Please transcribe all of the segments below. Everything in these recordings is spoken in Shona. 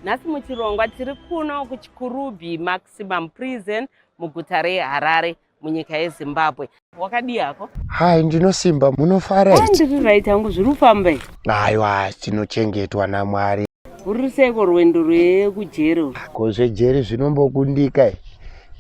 Nhasi muchirongwa tiri kuno kuChikurubi Maximum Prison muguta reHarare munyika yeZimbabwe. Wakadii hako? Hai, ndinosimba. Munofara here? Ndiri right hangu, zviri kufamba here? Aiwa, tinochengetwa naMwari. Uri seiko rwendo rwekujeri? Ko zvejeri zvinombokundika here?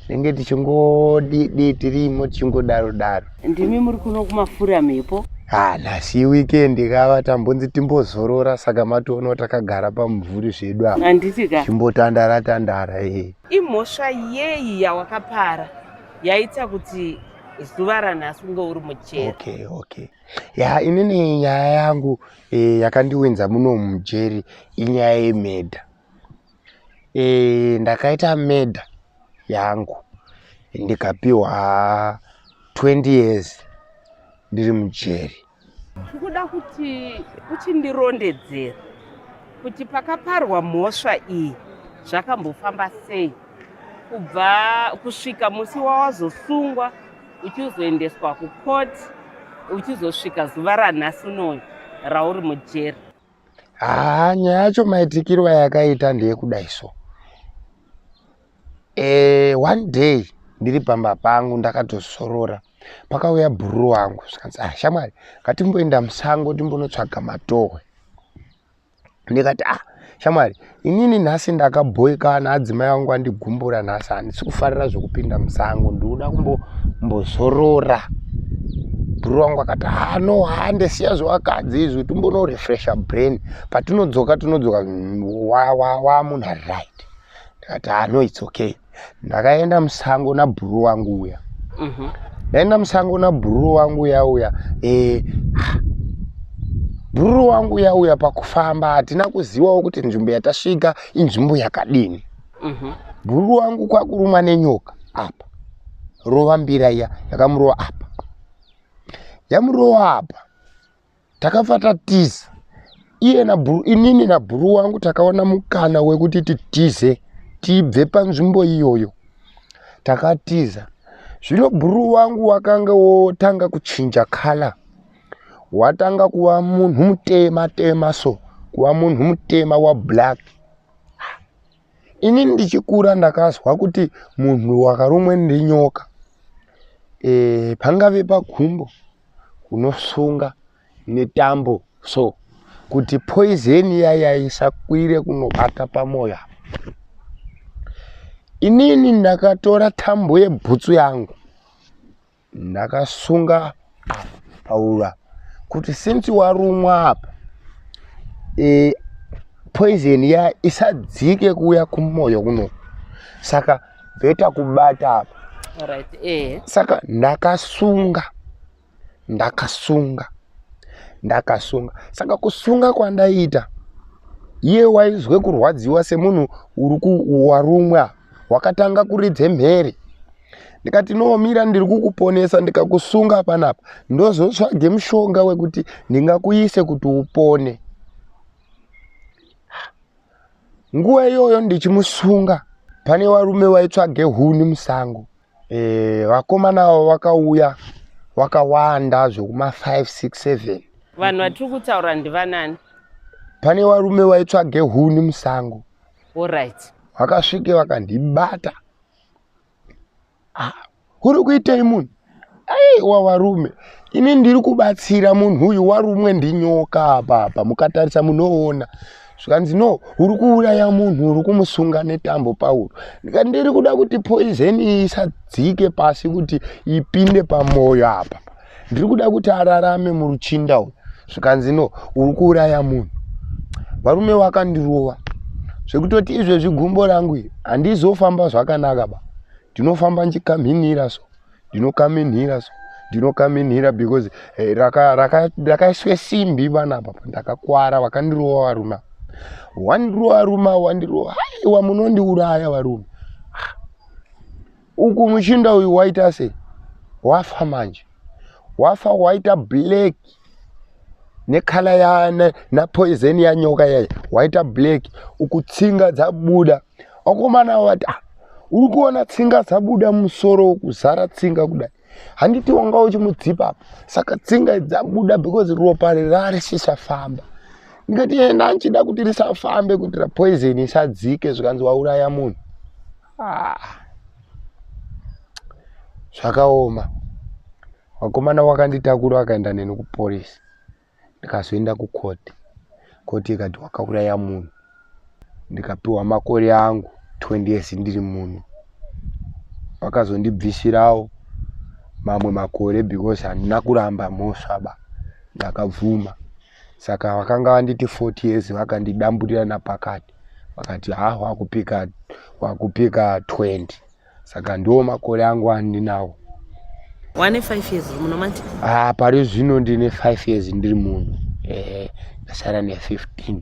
tinenge tichingodii tirimo tichingodaro daro ndimi muri kuno kumafura mhepo ha nhasi weekend kava tambonzi timbozorora saka matoono takagara pamumvuri zvedu apa handiti ka timbotandara tandara ee imhosva yeyi yawakapara yaita kuti zuva ranhasi unge uri mujeri okay okay ya inini nyaya yangu eh, yakandiwinza muno mujeri inyaya yemedha e, ndakaita meda yangu ndikapiwa 20 years ndiri mujeri ndikuda kuti uchindirondedzera kuti pakaparwa mhosva iyi zvakambofamba sei kubva kusvika musi wawazosungwa uchizoendeswa kukoti uchizosvika zuva ranhasi unoyu rauri mujeri haa nyaya yacho maitikiro ayakaita ndeyekudai so e, one day ndiri pamba pangu ndakatozorora pakauya bhuru wangu zvikanzi ah shamwari ngatimboenda musango timbonotsvaga matohwe ndikati ah shamwari inini nhasi ndakabhoikana adzimai vangu andigumbura nhasi handisi kufarira zvekupinda musango ndinoda kumbozorora bhuru wangu akati hano hande siya zvewakadzi izvi timbonorefresha brain patinodzoka tinodzoka wamunhu ari right ndikati hano its okay ndakaenda musango nabhuru wangu uya mhm. ndaenda musango nabhuru wangu uya uya eh, bhuru wangu uya uya pakufamba hatina kuzivawo kuti nzvimbo yatasvika inzvimbo yakadini mhm. bhuru wangu kwakurumwa nenyoka apa rova mbira iya yakamurova apa yamurova apa takabva tatiza iye nabhuru inini nabhuru wangu takaona mukana wekuti titize tibve panzvimbo iyoyo takatiza zvino bhuru wangu wakanga wotanga kuchinja kala watanga kuva munhu mutema tema so kuva munhu mutema wablack ini ndichikura ndakazwa kuti munhu wakarumwe nenyoka e, pangave pagumbo kunosunga netambo so kuti poison yaya isakwire kunobata pamoyo inini ndakatora tambo yebhutsu yangu ndakasunga paura kuti since warumwa apa e, poison ya isadzike kuuya kumoyo kuno saka bheta kubata apa right, eh. saka ndakasunga ndakasunga ndakasunga saka kusunga kwandaita iye waizwe kurwadziwa semunhu uri kuwarumwa apa wakatanga kuridze mhere ndikati nomira ndiri kukuponesa ndikakusunga panapa ndozotsvage mushonga wekuti ndingakuise kuti upone nguva iyoyo ndichimusunga pane varume vaitsvage huni musango e, vakomana avo vakauya vakawanda zvekuma 5 6 7 vanhu vatiri kutaura ndivanani pane varume vaitsvage huni musango Alright. Vakasvike vakandibata. Ah, uri kuitei munhu? Ai, wavarume. Ini ndiri kubatsira munhu uyu warumwe ndinyoka apa apa. Mukatarisa munoona. Zvikanzi no, uri kuuraya munhu uri kumusunga netambo pauro. Ndikandiri kuda kuti poison isadzike pasi kuti ipinde pamoyo apa. ndiri kuda kuti ararame muruchinda uyu zvikanzi no uri kuuraya munhu varume wakandirova zvekutoti izvezvi gumbo rangu iri handizofamba zvakanaka ba ndinofamba ndichikaminhira so ndinokaminhira so ndinokaminhira because eh, rakaiswe simbi vanapa ndakakwara vakandirova varume wandirova varume wandirova haiwa munondiuraya varume uku muchinda uyu waita sei wafa manje wafa waita black nekhala ya napoison ya nyoka yayo waita black uku tsinga dzabuda vakomana vati ah, uri kuona tsinga dzabuda musoro kuzara tsinga kudai handiti wanga uchimudzipa apa saka tsinga dzabuda because ropa rari sisafamba ndikati enda ndichida kuti risafambe kuitira poison isadzike zvikanzi wauraya munhu Ah. Zvakaoma. Wakomana wakanditakura wakaenda neni kupolice. Ndikazoenda kucourt. Court ikati wakauraya munhu. Ndikapiwa makore angu 20 years ndiri munhu. Vakazondibvisirawo mamwe makore because handina kuramba mhosva ba. Ndakabvuma. saka vakanga vanditi 40 years vakandidamburira napakati vakati ha wakupika wakupika 20 saka ndiwo makore angu andinawo wane 5 years muno manje ah pari zvino ndine 5 years ndiri muno eh ndasara ne 15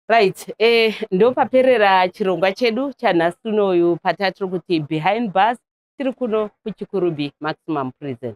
right eh ndopaperera chirongwa chedu chanhasi unoyu patatiri kuti behind bus tiri kuno kuchikurubi maximum prison